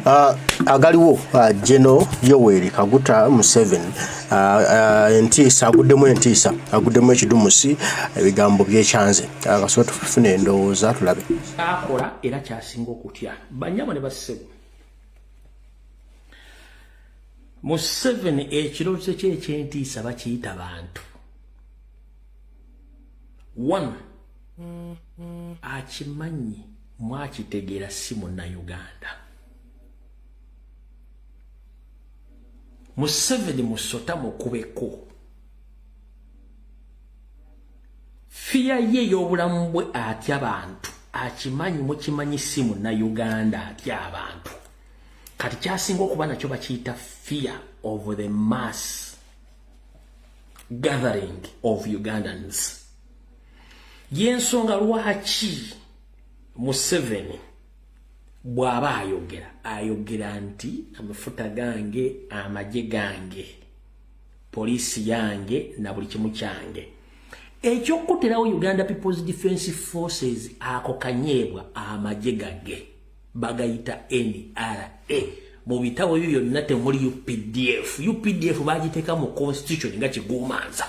Uh, agaliwo uh, General Yoweri Kaguta Museveni uh, uh, entiisa aguddemu entiisa aguddemu ekidumusi ebigambo byekyanze akasobola uh, tufuna endowooza tulabe akola era kyasinga okutya banyabo ne bassebo Museveni ekirooto kye ekyentiisa bakiyita bantu one mm-hmm. akimanyi mwakitegera si munnayuganda museveni musota mukubeko fiya ye ey'obulamu bwe atya bantu akimanyi mukimanyi si munnayuganda atya abantu kati kyasinga okuba nakyo bakiyita fear of the mass gathering of ugandans yensonga lwaki museveni bw'aba ayogera ayogera nti amafuta gange amagye gange poliisi yange na buli kimu kyange ekyokukuterawo uganda peoples defense forces ako kanyeebwa amagye gage bagayita nra mu bitabo ebyo byonna temuli updf updf bagiteeka mu constitution nga kigumanza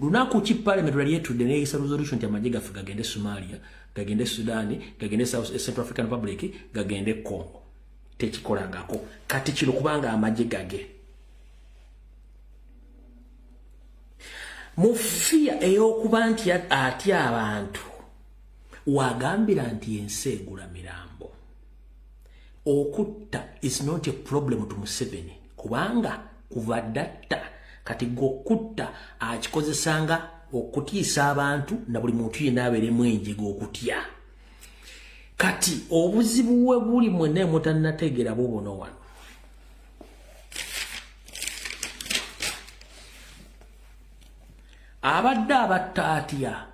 lunaku ki parliament lwali etudde neyisa resolution nti amagye gaffe gagende somalia gagende sudani gagende eh, central african republic gagende congo tekikolangako kati kino kubanga amagye gage mu fiya eyokuba nti atya abantu wagambira nti ensi egula mirambo okutta is not a problem to museveni kubanga kuva datta kati gokutta akikozesanga okutiisa abantu na buli muntu yena aberemu enjega okutya kati obuzibu we buli mwena emutanategera bubuno wano abadde abatta atya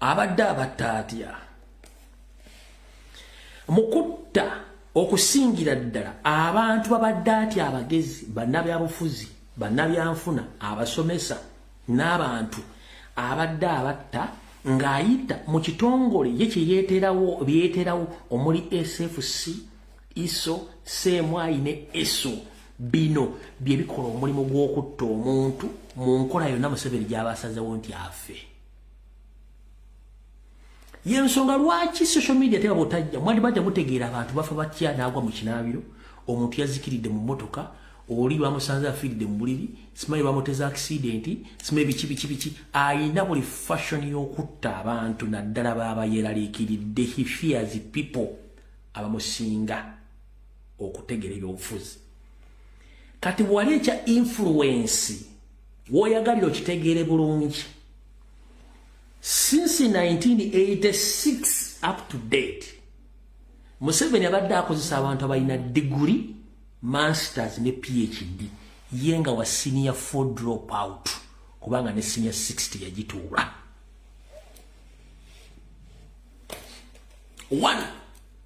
abadde abatta atya mukutta okusingira ddala abantu babadde atya abagezi bannabyabufuzi bannabyanfuna abasomesa n'abantu abadde abatta ng'ayita mu kitongole ye kyeyeeterawo byeyeeterawo omuli sfc iso seemwayi ne eso Bino bye bikola omulimu gw'okutta omuntu mu nkola yonna Museveni gy'aba asazewo nti afe. Y'ensonga lwaki social media teba butajja mwandibadde mutegeera abantu bafa batya n'agwa mu kinaabiro, omuntu yazikiridde mu mmotoka, oli bamusanze afiiridde mu buliri, simanyi bamuteza akisidenti, simanyi biki biki biki, alina buli fashion y'okutta abantu naddala baba yeeraliikiridde, he fears people abamusinga. okutegera ebyobufuzi kati bwali ekya influensi woyagalira okitegeere bulungi since 1986 up to date museveni abadde akozesa abantu abalina diguri masters ne phd ye nga wa senior four drop out kubanga ne senior 60 yagituula one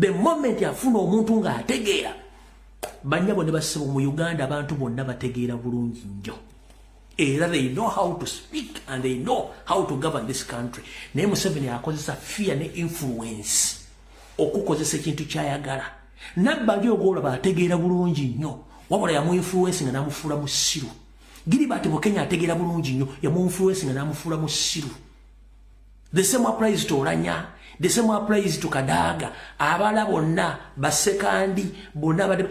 the moment afuna omuntu nga ategeera banyabo ne basibo mu uganda abantu bonna bategeera bulungi nnyo era they know how to speak and they know how to govern this country naye museveni akozesa fear ne influence okukozesa ekintu kyayagala nabbali ogwolaba ategeera bulungi nnyo wabula yamuinfluensi nga namufuula mu ssiru giri bati bukenya ategeera bulungi nnyo yamuinfluensi nga namufuula mu ssiru the same applies to olanya the same applies to kadaga abala bonna basekandi bonna bade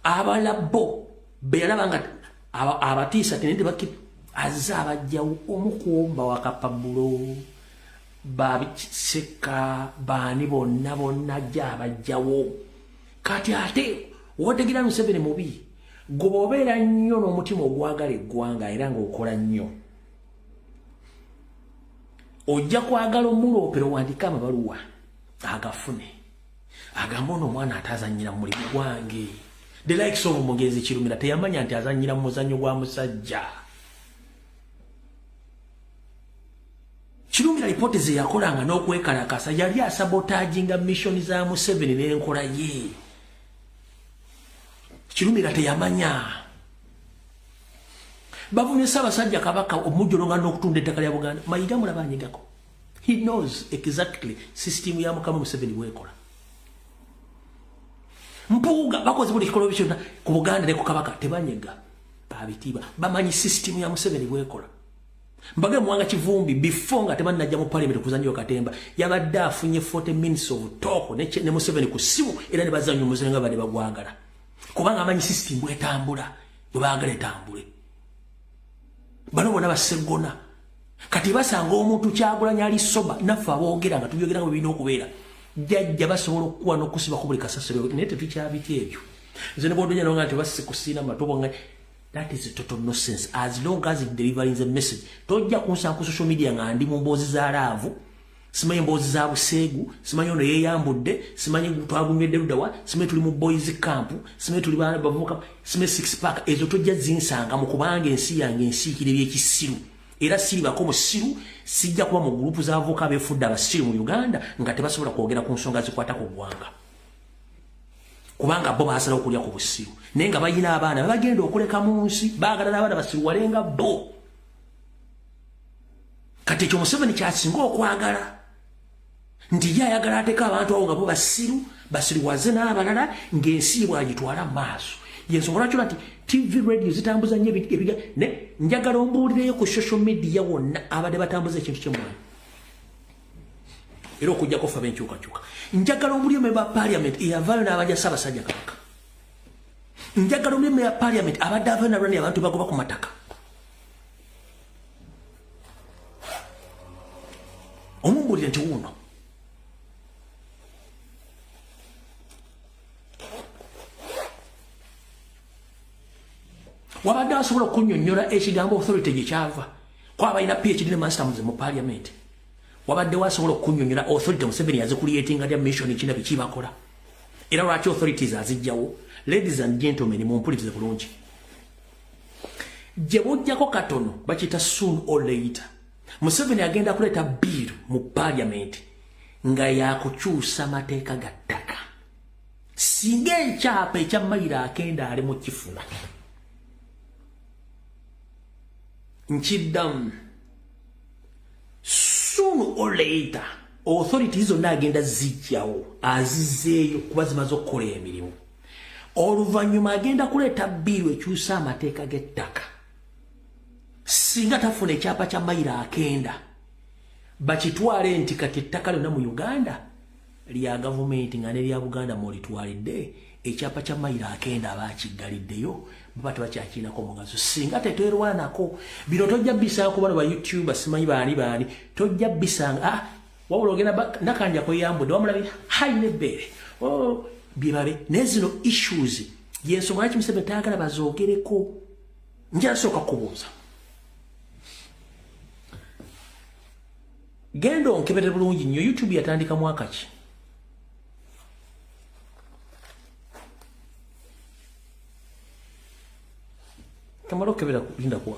abala bo beyalaba nga abatiisa tene tebaki azze abajjawo omu kuomba wakapabulo babiseka baani bonna bonna ajja abajjawo kati ate wotegera museveni mubi goba obeera nnyo n'omutima ogwagala eggwanga era ngaokola nnyo ojja kwagala omuloopera owandike amabaluwa agafune agamba ono omwana ate azanyira mu mulimu gwange the likes of mugenzi kirumira teyamanya nti azanyira mu muzannyo gwa musajja kirumira lipooti ze yakolanga n'okwekalakasa yali asabotaginga missioni za museveni n'enkola ye kirumira teyamanya bavumye Ssaabasajja Kabaka omujjolonga n'okutunda ettaka lya Buganda. Mayiga mulaba anyigako. He knows exactly system ya Mukama Museveni bwekola. Mpuuga bakoze buli kikolwa kyonna ku Buganda ne ku Kabaka tebanyega babitiibwa bamanyi system ya Museveni bwekola. Mbage mwanga kivumbi before nga tebannajja mu parliament okuzannyira katemba yabadde afunye 40 minutes of talk ne, ne Museveni ku ssimu era ne bazannya omuzanyo nga bade bagwagala kubanga amanyi system bwetambula. bwe baagala etambule bano bona baseggona kati basanga omuntu kyagulanya ali soba naffe aboogera nga tubyogera nga birina okubeera jajja basobola okukuwa n'okusiba ku buli kasasiro naye tetukyabika ebyo nze ne bwodonya nonga nti basikusiina matobo nga that is a total nonsense as long as it delivering the message tojja kunsanga ku social media nga ndi mu mboozi za laavu simanyi emboozi za buseegu simanyi ono yeyambudde simanyi twagumyedde ludawa simanyi tuli mu boys camp simanyi tuli baana bavubuka simanyi six pack ezo tojja zinsanga mu kubanga ensi yange ensiikire byekisiru era siribako musiru sijja kuba mu gurupu z'abavubuka abefudde abasiru mu uganda nga tebasobola kwogera ku nsonga zikwata ku ggwanga kubanga bo basala okulya ku busiru naye nga bayina abaana babagenda okuleka mu nsi baagala n'abaana basiruwalenga bo kati ekyo museveni kyasinga okwagala nti ye ayagala ateka abantu awo nga bo basiru basiriwaze n'abalala ng'ensi ye bwagitwala mu maaso yensonga lwaki ola nti tv radio zitambuza nnyo ebiga ne njagala ombuulireyo ku social media wonna abadde batambuza ekintu kyemwana era okujjako ffe abenkyukakyuka njagala omuli emu eba parliament eyavaayo n'abaja ssaabasajja kabaka njagala omuli emu eya parliament abadde avaayo nalwani abantu bagoba ku mataka omumbulire nti wuuno wabadde asobola okunyonyola ekigambo authority gyekyava kwabalina phd ne masters mu parliament wabaddewo asobola okunyonyola authority museveni yazikuliyetinga lya mission ekina bikyibakola era lwaki authorities azijjawo ladies and gentlemen mumpulirize bulungi gye bujjako katono bakiyita soon or later museveni agenda kuleeta biiru mu paliamenti nga yakukyusa mateeka ga ttaka singa ekyapa ekya mayiro akenda ali mu kifuna nkiddamu soon or later authority zonna agenda zijjawo azizeeyo kuba zimaze okukola emirimu oluvannyuma agenda kuleeta bbiiru ekyusa amateeka g'ettaka singa tafuna ekyapa kya mayiro akenda bakitwale nti kati ettaka lyonna mu uganda lya gavumenti nga nerya buganda mwolitwalidde ekyapa kya mayiro akenda aba akiggaliddeyo baba tebakyakiinako mugaso singa tetwerwanako bino tojja bisanga kubano ba youtube simanyi baani baani tojja bisanga ah, wabula ogenda nakanja kweyambudde wamulabye hayi nebbeere oh, byebabe naye zino issues yensonga lwaki museveni tayagala bazoogereko njasooka kubuuza genda onkebere bulungi nnyo youtube yatandika mwaka ki kamala okebera lindakuwa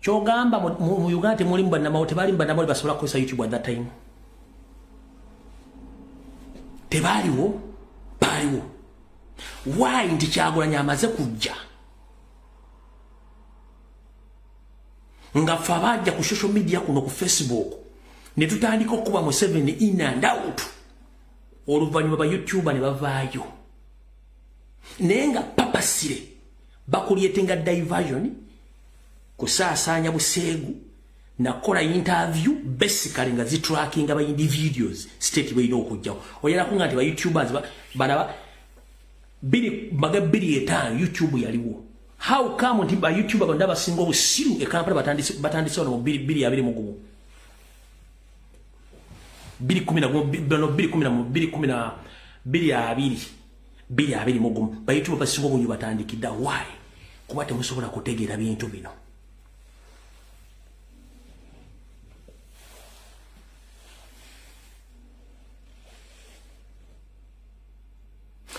kyogamba mu Uganda temulimu bannamawo tebalimu bannamawo basobola kukozesa YouTube at that time tebaaliwo baaliwo why nti kyagulanya amaze kujja nga fe abajja ku social media kuno ku facebook ne tutandika okukuba museveni in and out oluvannyuma ba youtuba ne bavaayo naye nga papasire bakulyetenga diversion kusaasaanya buseegu nakola interview basically nga zitrackinga ba individuals state balina okujjawo oyalako nga nti ba youtubers balaba biri baga biri etaano youtube yaliwo how come nti ba youtube abantu abasinga obusiru e kampala batandise batandise ono biri biri abiri mu gumu biri kumi na gumu bano biri kumi na biri kumi na biri abiri biri abiri mu gumu bayitibwa basiba obunyi batandikidda why kuba temusobola kutegeera bintu bino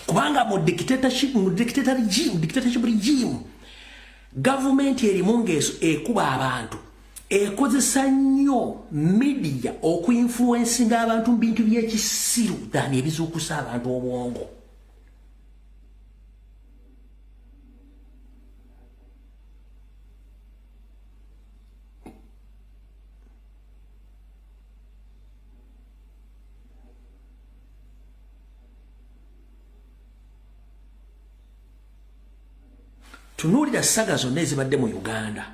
kubanga mu dictatorship mu dictator regime dictatorship regime gavumenti erimu ngaeso ekuba abantu ekozesa nnyo media okuinfluensinga abantu mu bintu byekisiru than ebizuukusa abantu obwongo tunuulira saga zonna ezibadde mu uganda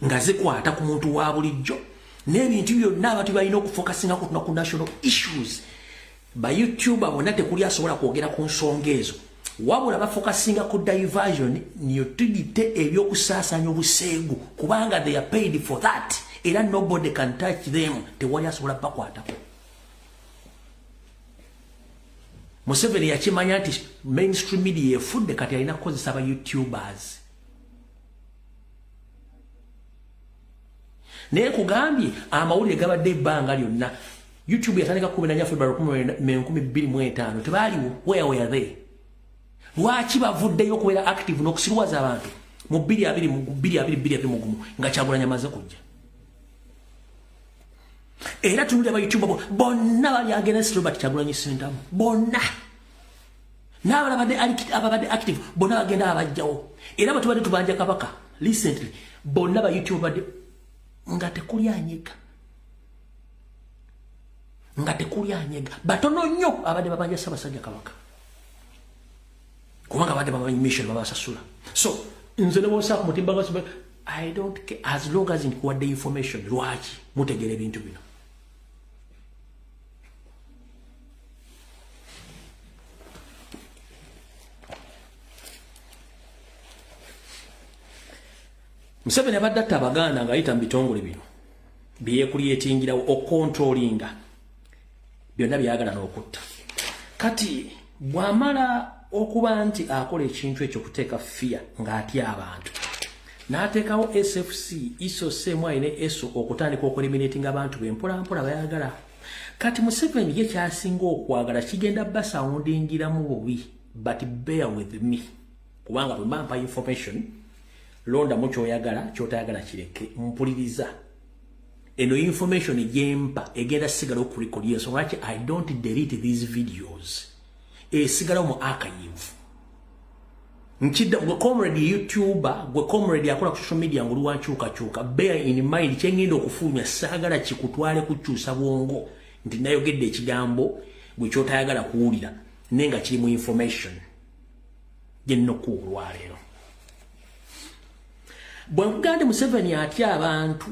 nga zikwata ku muntu wa bulijjo n'ebintu byonna abantu balina okufokasinga kutuna ku national issues bayoutube bona tekuli asobola kwogera ku nsonga ezo wabula bafokasinga ku diversion niyotudite ebyokusaasanya obuseegu kubanga they are paid for that era nobody can touch them tewali asobola bakwatako museveni yakimanya nti mainstream media efudde kati alina kukozesa ba youtubers naye kugambye amawulire gabadde ebbanga lyonna youtube yatandika kumi nanya february kumi enkumi bbiri mu etaano tebaaliwo where were they lwaki bavuddeyo okubeera active n'okusiruwaza abantu mu bbiri abiri mu bbiri abiri bbiri abiri mugumu nga kyagulanya amaze kujja era tunulira ba youtube bonna bali against robert kyagulanyi sentamu bonna n'abala badde ababadde active bonna bagenda abajjawo era bwe tubadde tubanja kabaka recently bonna ba youtube badde nga tekuli anyega nga tekuli anyega batono nnyo abadde babanja ssabasajja kabaka kubanga abadde bamanyi mission babasasula so nze nebosaa ku mutimba gwa i don't care as long as nkuwadde information lwaki mutegera ebintu bino museveni abadde atta abaganda ng'ayita mu bitongole bino byeyekulyetingirawo okontrolinga byonna byagala n'okutta kati bw'amala okuba nti akola ekintu ekyo kuteeka fiya ng'atya abantu n'ateekawo sfc iso seemu alina eso okutandika okulimiratinga abantu be mpolampola bayagala kati museveni ye kyasinga okwagala kigenda basawundingiramu bubi but bear with me kubanga bwemampa information londamu kyoyagala kyotayagala kireke mpuliriza eno information gyempa egenda sigala okurekodi ensonga lwaki i don't delete these videos esigala mu archive nkidda gwe comrade youtuber gwe comrade akola ku social media ngoli wankyuka kyuka bear in mind kyengenda okufulumya saagala kikutwale kukyusa bwongo nti nayogedde ekigambo gwe kyotayagala kuwulira naye nga kiri mu information gyennokku olwaleero bwe nkugande museveni atya abantu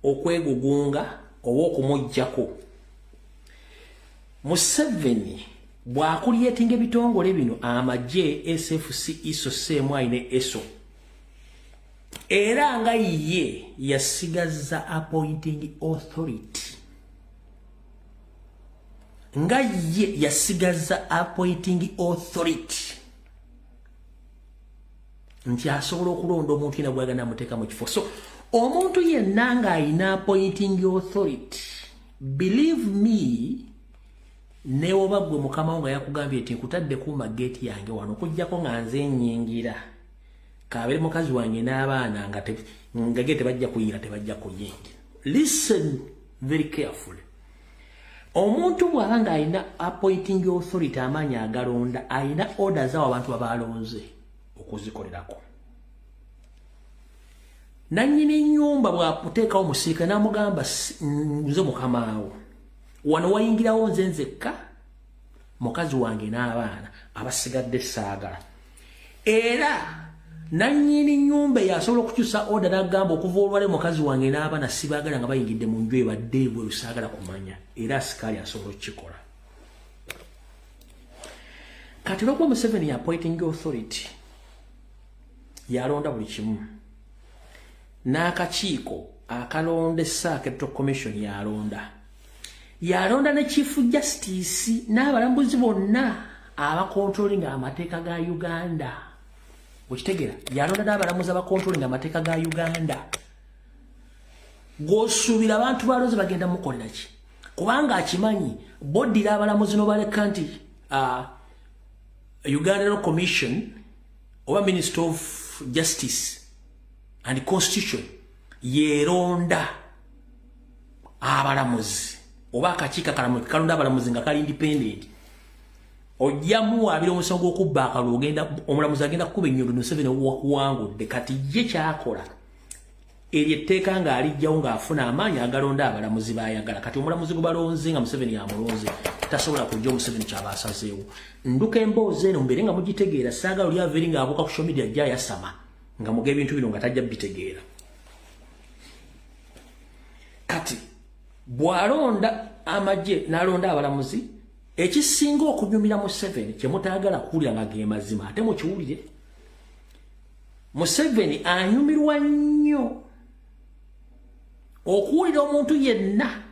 okwegugunga oba okumugjako museveni bwakulyetinga ebitongole bino amagye sfc iso cmi ne eso era nga ye yasigaza appointing authority nga ye yasigaza appointing authority nti asobola okulonda omuntu yena gwagana amuteeka mu kifo so omuntu yenna ng'alina appointing authority believe me newoba gwe mukama nga yakugambye nti nkutadde kuuma geeti yange wano okujjako nga nze nyingira kabere mukazi wange n'abaana nga ge tebajja kuyingira tebajja kuyingira listen very carefully omuntu bw'aba ng'alina appointing authority amaanyi agalonda alina order zawo abantu babalonze okuzikolerako nannyini nnyumba bwakuteekawo musirikale namugamba nze mukamaawo wano wayingirawo nze nzekka mukazi wange n'abaana abasigadde saagala era nannyini nnyumba eyasobola okukyusa oda nagamba okuva olwale mukazi wange n'abaana sibaagala nga bayingidde mu nju ebadde ebwe lusaagala kumanya era asikaali asobola okukikola kati olwokuba museveni yapoiting authority yalonda buli kimu n'akakiiko akalonda essaaka eto commission yalonda yalonda ne chief justice n'abalambuzi bonna abakontrolinga amateeka ga uganda okitegera yalonda n'abalamuzi abakontrolinga amateeka ga uganda gwosuubira abantu balozi bagenda mukolera ki kubanga akimanyi boddira abalamuzi nobaleka nti uh, uganda no commission oba minister of justice and constitution yeronda abalamuzi oba akakiiko akalamuzi kalonda abalamuzi nga kali independent ojja muwaabira omusango gw'okubba akalulu ogenda omulamuzi agenda kukuba ennyundo museveni wakuwangudde kati ye kyakola eryo etteeka ng'alijjawo ng'afuna amaanyi agalonda abalamuzi baayagala kati omulamuzi gwe balonze nga museveni yamulonze tasobola kujja omuseveni kyaba asazeewo nduka emboozi eno mubeere nga mugitegeera saagala oli aveeri ng'abuuka ku social media ajja ayasama nga muga ebintu bino nga tajja bitegeera kati bw'alonda amagye n'alonda abalamuzi ekisinga okunyumira museveni kye mutaagala kuwulira nga ge mazima ate mukiwulire museveni anyumirwa nnyo okuwulira omuntu yenna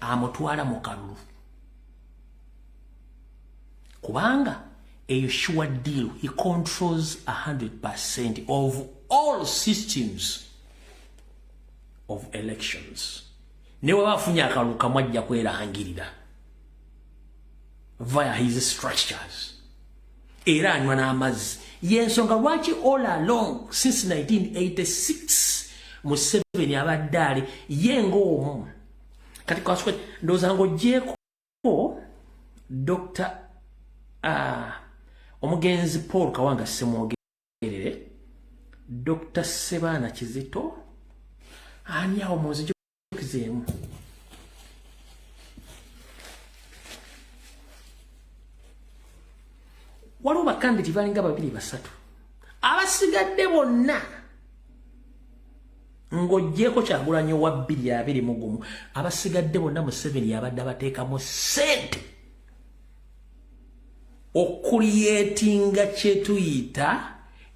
amutwala mu kalulu kubanga eyo sure deal he controls 100 percent of all systems of elections neweba afunye akalulu kamu ajja kwerangirira via his structures era anywa n'amazzi yensonga lwaki all along since 1986 museveni abadde ali ye ngaomu kati kaswe ndowooza ngaogyeko dr uh, omugenzi paul kawanga semwogerere dr sebaana kizito ani awo munzij tukizeemu waliwo bakanditi balinga babiri basatu abasigadde bonna ng'ogyeko kyagulanyo wa bbiri abiri mugumu abasigadde bonna museveni yabadde abateekamu sente okuliyetinga kyetuyita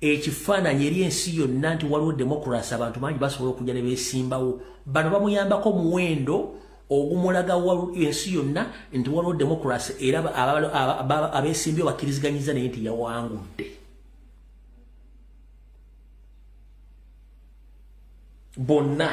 ekifaananyi eri ensi yonna nti waliwo demokrasi abantu bangi basobola okujja ne beesimbawo bano bamuyambako muwendo ogumulaga ensi yonna nti waliwo demokrasi era abeesimbyo bakkiriziganyiza naye nti yawangudde bonna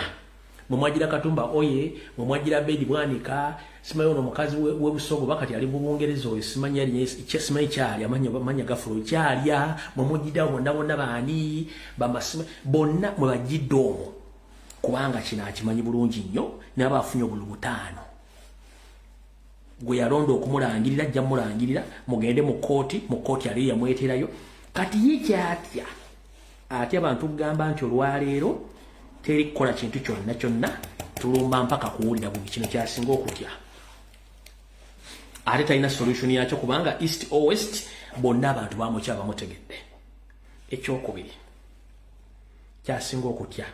mwemwagira katumba oye mwemwagira bedi bwanika simanyi ono omukazi webusogo we bakati ali mubungereza oyo simanyi alisimanyi kyali amanya gafulo kyalya mwemujidao bonna bonna baani bamasima bonna mwebajidde omwo kubanga kino akimanyi bulungi nnyo naba afunye obulu butaano gwe yalonda okumulangirira ajja mulangirira mugende mu kooti mu kooti aliyo yamweterayo kati ye kyatya ate abantu kugamba nti olwaleero teri kukola kintu kyonna kyonna tulumba mpaka kuwulira bubi kino kyasinga okutya ate talina solution yakyo kubanga east o west bonna abantu bamukya bamutegedde ekyokubiri kyasinga okutya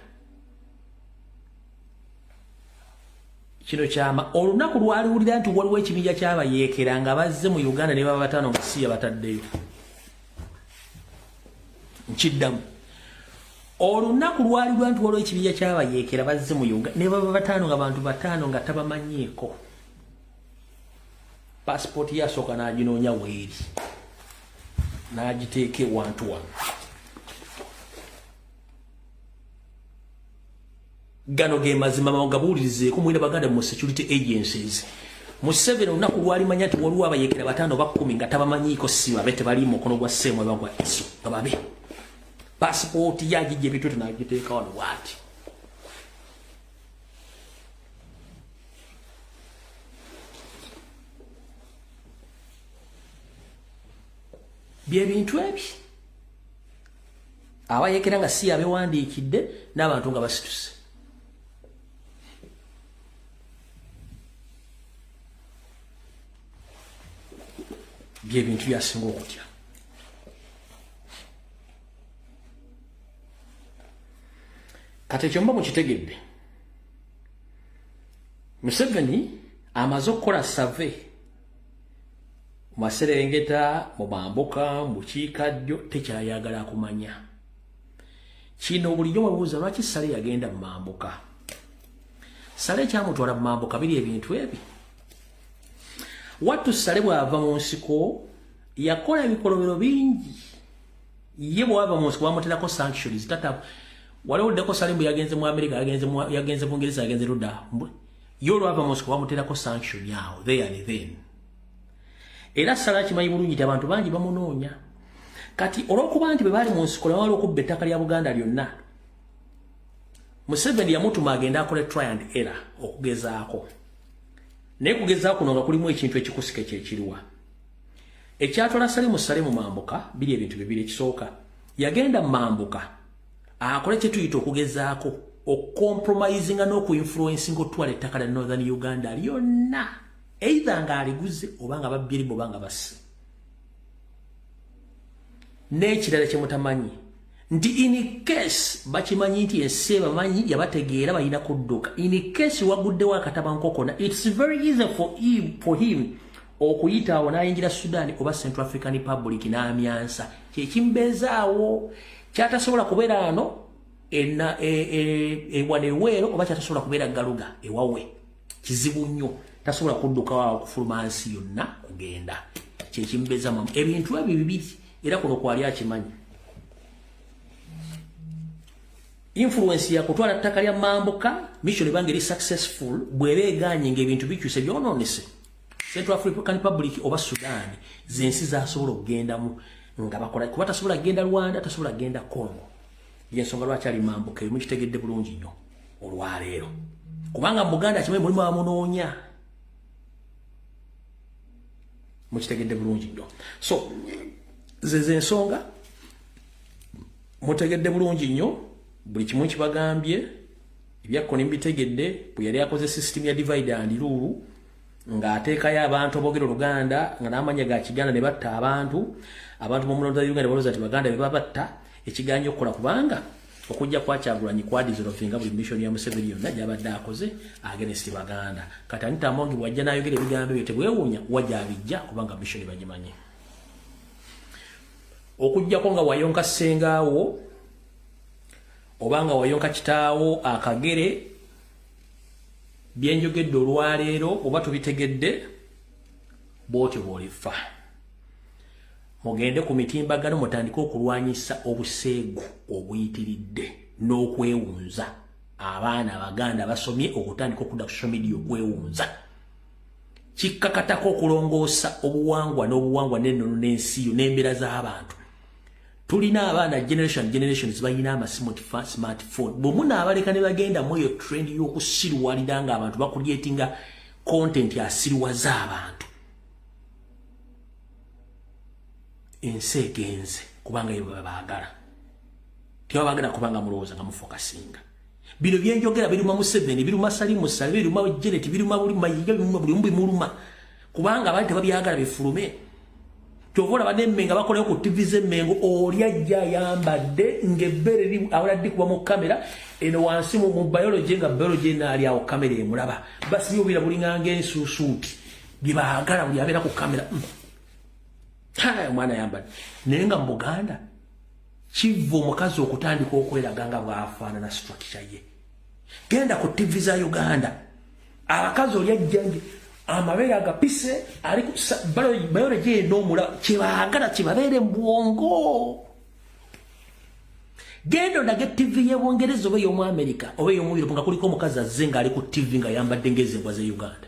kino kyama olunaku lwaliwulira nti waliwo ekibinja kyabayeekera nga bazze mu uganda ne baba batano nga siya bataddeyo nkiddamu olunaku lwali lwa nti waliwo ekibinja kyabayeekera bazze mu uga ne baba bataano nga bantu bataano nga tabamanyiiko pasipooti yasooka n'aginoonya weeri n'agiteeka ewantu wano gano ge mazima mawagabuulirizeeko mwena baganda mu security agencies mu seven olunaku lwalimanya nti waliwo abayekera bataano bakumi nga tabamanyiiko si babe tebali mukono gwa seemu eba gwa iso nga babe pasipooti yagijja ebitute nagiteeka wano waati byebintu ebyo abayekera nga si yabewandiikidde n'abantu nga basituse byebintu byasinga okutya kati ekyo mba mukitegedde museveni amaze okukola save maserengeta mu mambuka mu bukiika ddyo tekyayagala kumanya kino bulijjo webuuza lwaki sale yagenda mu mambuka sale kyamutwala mu mambuka biri ebintu ebi wattu sale bw'ava mu nsiko yakola ebikolobero bingi ye bw'ava mu nsiko bamuterako sanctions tata waliwo ddeko sale mbu yagenze mu amerika yagenze bungereza yagenze luda yo olwava mosco bamuterako sanction awo there and then era sala kimanyi bulungi nti abantu bangi bamunoonya kati olwokuba nti bwe baali mu nsiko nebawala okubba ettaka lya buganda lyonna museveni yamutuma agende akole try and error okugezaako naye kugezaako kuno nga kulimu ekintu ekikusike kyekiriwa ekyatwala salimu sale mu mambuka biri ebintu bibiri ekisooka yagenda mu mambuka akole kye tuyita okugezaako okucompromisinga n'okuinfluensinga otwala ettaka lya northern uganda lyonna eitha nga aliguze oba nga babbirimu oba nga basse n'ekirala kye mutamanyi nti in case bakimanyi nti ensi ebamanyi yabategeera balina kudduka in case waguddewo akatabankokona its very easy for him, for him okuyita awo n'ayingira sudan oba central african republic n'amyansa kyekimbeezaawo kyatasobola kubeera ano ewana e, e, e, eweero oba kyatasobola kubeera galuga ewawe kizibu nnyo tasobola kuddukawo okufuluma nsi yonna kugenda kyekimbeeza mamu ebintu ebyo bibiri era kuno kwali akimanyi influence ya kutwala ttaka lya mambuka mission ebanga eri successful bw'eba egaanye ng'ebintu bikyuse byononese Central African Republic oba Sudan zensi zasobola okugendamu nga bakola kuba tasobola kugenda Rwanda tasobola kugenda Congo yensonga lwaki ali mambuka emu kitegedde bulungi nnyo olwaleero kubanga mu Buganda kimwe mulimu amunoonya mukitegedde bulungi nnyo so zeze ensonga mutegedde bulungi nnyo buli kimu kibagambye Ebyakko ne mbitegedde bwe yali akoze sisitimu ya divide and rule ng'ateekayo abantu aboogera oluganda nga n'amanya ga kiganda ne batta abantu abantu b'omulonda wa uganda balooza nti baganda be babatta ekigaanyi okukola kubanga okujja kwa kyagulanyi kwadizolovinga buli mission ya museveni yonna gyabadde akoze agenesti baganda kati anita amongi bwajja n'ayogera ebigambo ebyo tebwewuunya wa gyabijja kubanga mission bagimanyi okujjako nga wayonka ssengaawo obanga wayonka kitaawo akagere byenjogedde olwaleero oba tubitegedde bwotyo bwolifa mugende ku mitimbagano mutandike okulwanyisa obuseegu obuyitiridde n'okwewunza abaana abaganda basomye okutandika okudda ku social media okwewunza kikkakatako okulongoosa obuwangwa n'obuwangwa n'ennono n'ensi yo n'embeera z'abantu tulina abaana generation generations balina amasimu ti smartphone bwe munaabaleka ne bagenda mu eyo trend y'okusiruwalira nga abantu bakulyetinga content asiruwaza abantu ensi egenze kubanga yebwe babaagala tebabagala kubanga mulowooza nga mufokasinga bino byenjogera biruma museveni biruma salimu sale biruma jeneti biruma buli mayiga biruma buli mbi muluma kubanga abali tebabyagala bifulume kyova olaba nemmengo abakolayo ku tivi z'emmengo oli ajja ayambadde ng'ebbere ri awala ddi kuba mu kamera eno wansi mu biology nga biology enaali awo kamera emulaba basibi obira bulinganga ensuusuuti bye baagala buli abeera ku kamera hmm. omwana ayambadde naye nga mu buganda Kivva omukazi okutandika okweraga nga bwafaanana structure ye. Genda ku TV za Uganda. Abakazi oli ajjanje amabeere agapise ali ku biology eno omula kyebaagala kibabeere mu bwongo. Genda ondage TV ye Bungereza oba ey'omu Amerika oba ey'omu Europe nga kuliko omukazi azze ng'ali ku TV nga yambadde ng'ezimbwa z'e Uganda.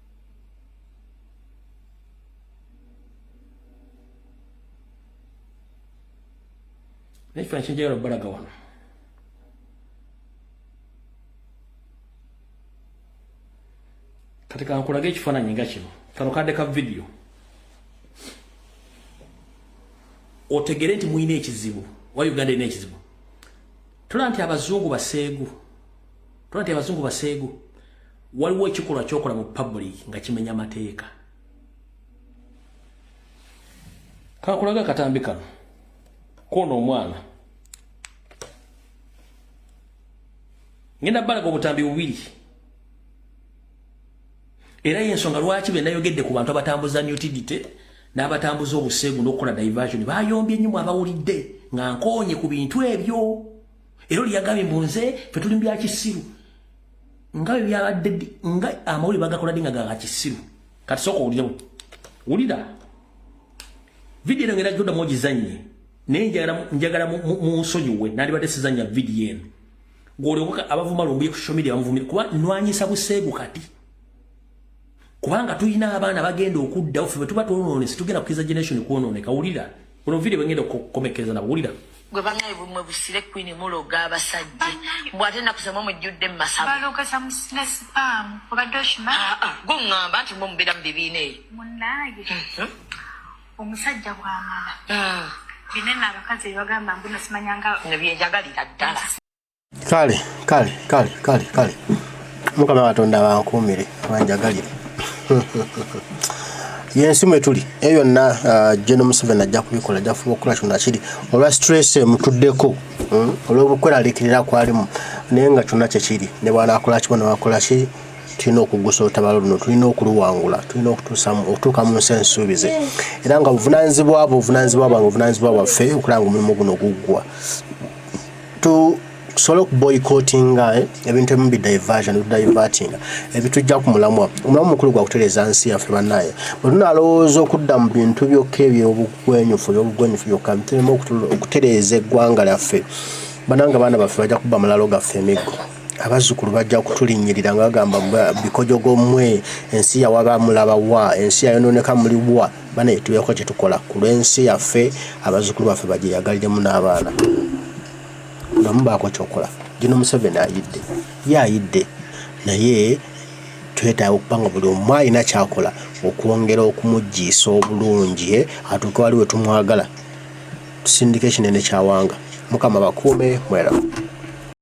naye kifaananyi kyenjagala okubalaga wano kati kankulage ekifaananyi nga kino kano kadde ka vidiyo otegere nti mulina ekizibu wa uganda erina ekizibu tola nti abazungu baseegu tola nti abazungu baseegu waliwo ekikolwa kyokola mu public nga kimenya mateeka kakulaga akatambi kano kona omwana ngenda balaga obutambi bubiri era yensonga lwaki benayogedde ku bantu abatambuza newtidite n'abatambuza obuseegu n'okukola diversion bayombye nnyo mu abawulidde nga nkoonye ku bintu ebyo era oli yagambye mbu nze fe tuli mu byakisiru nga bwe byabadde nga amawulire bagakola ddi nga ga kisiru kati sooka owulirewo wulira vidiyo eno ngera gyodamu ogizannye naye njagala munsonyiwe nandibadde sizannya vidiyo eno ng'olyoka abavuma lumbuye ku social media bamuvumire kuba nwanyisa buseegu kati kubanga tulina abaana bagenda okuddawo fe bwetuba twonoone situgenda kukiriza generation kwonooneka wulira ono video bwengenda okukomekereza nabo wulira gwe banaye bumwe busire kwini muloga abasajja mbw ate nakusema mujjudde mumasabugongamba nti mwe mubeera mu bibiina eyo mhm. omusajja bwamala ah. binene abakazi bebagamba mbunasimanyanga nebyenjagalira ddala kale kale kale kale kale mukama katonda bankuumire banjagalire yensi mwetuli eyo yonna uh, geno museveni ajja kubikola ajja kufuba okukola kyona kiri olwa stress emutuddeko hmm? olw'obukweralikirira kwalimu naye nga kyonna kyekiri ne bwanakola kibo newakola ki tulina okugusa olutabalo luno tulina okuluwangula tulina okutuuka mu nsi ensuubize era nga obuvunanyizibwa bwe obuvunanyizibwa bwange obuvunanyizibwa bwaffe okulanga omulimu guno guggwa tu tusobole okuboycottinga eh, ebintu ebimu bidiversion bidivertinga ebitujja ku mulamwa omulamu mukulu gwa kutereeza nsi yaffe bannaye bwe tunalowooza okudda mu bintu byokka ebyobugwenyufu ebyobugwenyufu byokka bitulema okutereeza eggwanga lyaffe bananga baana baffe bajja kubba mulalo gaffe emiggo abazzukulu bajja kutulinnyirira nga bagamba bikojogo mwe ensi yawaba mulaba wa ensi yayononeka muli wa banaye tubeeko kyetukola ku lw'ensi yaffe abazukulu baffe bagyeyagaliremu n'abaana namu baako kyokola gino museveni ayidde ye ayidde naye twetaaga okuba nga buli omu alina kyakola okwongera okumugyiisa obulungi eh, atuuke wali wetumwagala tusindika ekinene kyawanga mukama bakuume mweramu